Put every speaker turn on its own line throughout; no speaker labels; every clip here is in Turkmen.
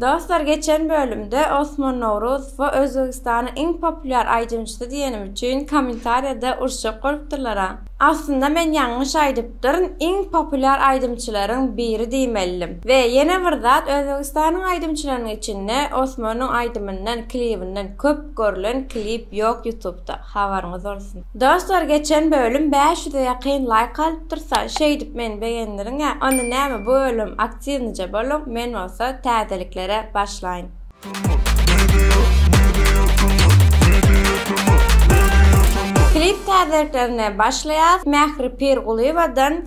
Dostlar geçen bölümde Osman Nowruz we Özbegistanyň iň populýar aýdymçysy diýenim üçin kommentariýada uruşjak bolupdyrlara. Aslynda men ýalňyş aýdypdyryn iň populýar aýdymçylaryň biri diýmelidim. We ýene bir zat Özbegistanyň aýdymçylarynyň içinde Osmanyň aýdymyndan klibinden köp görlen klip ýok ýutubda. Habaryňyz bolsun. Dostlar geçen bölüm bäş ýüze ýakyn laýk alyp dursa şeýdip meni begendiriňä onda näme bu bölüm aktiwnije boluň men bolsa täzeliklere başlaýyn. Klip täzeliklerine başlaýas Mähri Pirgulyýewadan.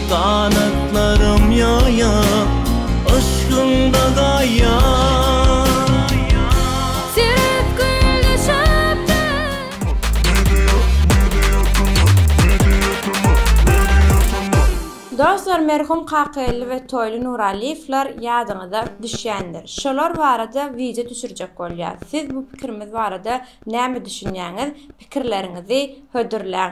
Ganatlarym ýaýyp, yşkyňda gaýyp.
Sürüp gül düşüpdir.
Dostlar, merhum Kakageldi we Toýly Nuralyýewler ýadyňyza düşýändir. Şolar barada wideo düşürjek bolýas. Siz bu pikirimiz barada näme düşünýäňiz? Pikirleriňizi hödürläň.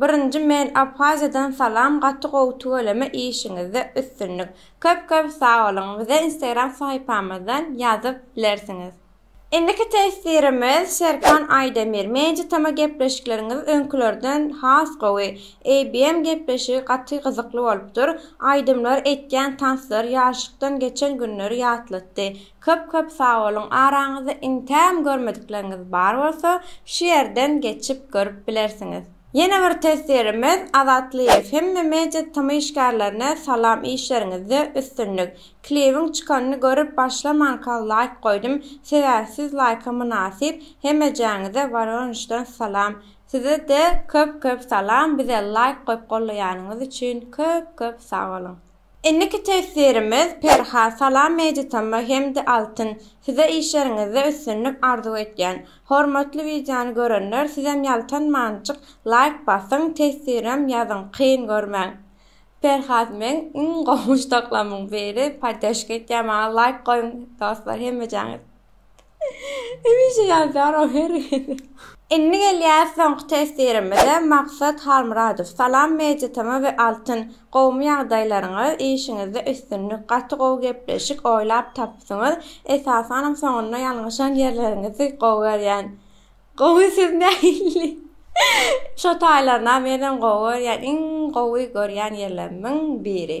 Birinji men Abhaziýadan salam gaty gowy tüweleme işiňizde üstünlik. Köp köp sag boluň. Bize Instagram sahypamyzdan ýazyp bilersiňiz. Indiki testirimiz Serkan Aýdemir. Menje tema gepleşikleriňiz öňkülerden has gowy. ABM gepleşigi gaty gyzykly bolupdyr. Aýdymlar, etýän tanslar, ýaşlykdan geçen günleri ýatlatdy. Köp köp sagboluň araňyzda iňtäm görmedikleriňiz bar bolsa şu ýerden geçip görüp bilersiňiz. Ýene bir teswirimiz Azatlyýew hemme media tm işgärlerine salam işleriňizde üstünlik. Klibiň çykanyny görüp başlamanka laýk goýdum sebäbi siz laýka mynasyp hemejäňize Waronejden salam. Sizede köp köp salam bize laýk goýup gollaýanyňyz üçin köp köp sagboluň. Indiki tefsirimiz Perha salam Meditama hemde Altyn size işleriňizde üstünlik arzuw etýän. Hormatly wideony görenler sizem ýaltanmanjyk laýk basyň tefsirem ýazyň kyn görmäň. Perhat meň iň gowy muşdaklamyň biri poddeşka etýän maňa laýk goýuň dostlar hemmejaňyz. Hemişe ýazýar o her gezek. Indi gelýäs soňky teswirimize Maksat Halmyradow Salam Mediatm we Altyn gowumy ýagdaýlaryňyz işiňizde üstünlik gaty gowy gepleşik oýlap tapypsyňyz esasanam soňunda ýalňyşan ýerleriňizi gowy görýän gowy siz nähili şo taýlaryna menem gowy görýän iň gowy görýän ýerlerimiň biri.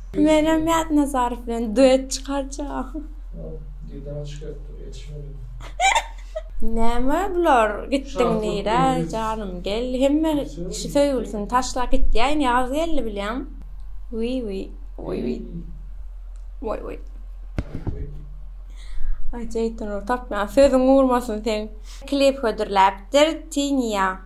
Menem Mäd Nazarow bilen duet çykarjak. Näme bular gitdiň nirä janym gel hemme kişi söýgülisini taşlap gitýä indi ýaz geldi bilýäň. Wiý wiý wiý wiý wiý wiý. Aý Jeýtun ur tapýan sözüň urmasyn seň. Klip hödürläpdir Tinya.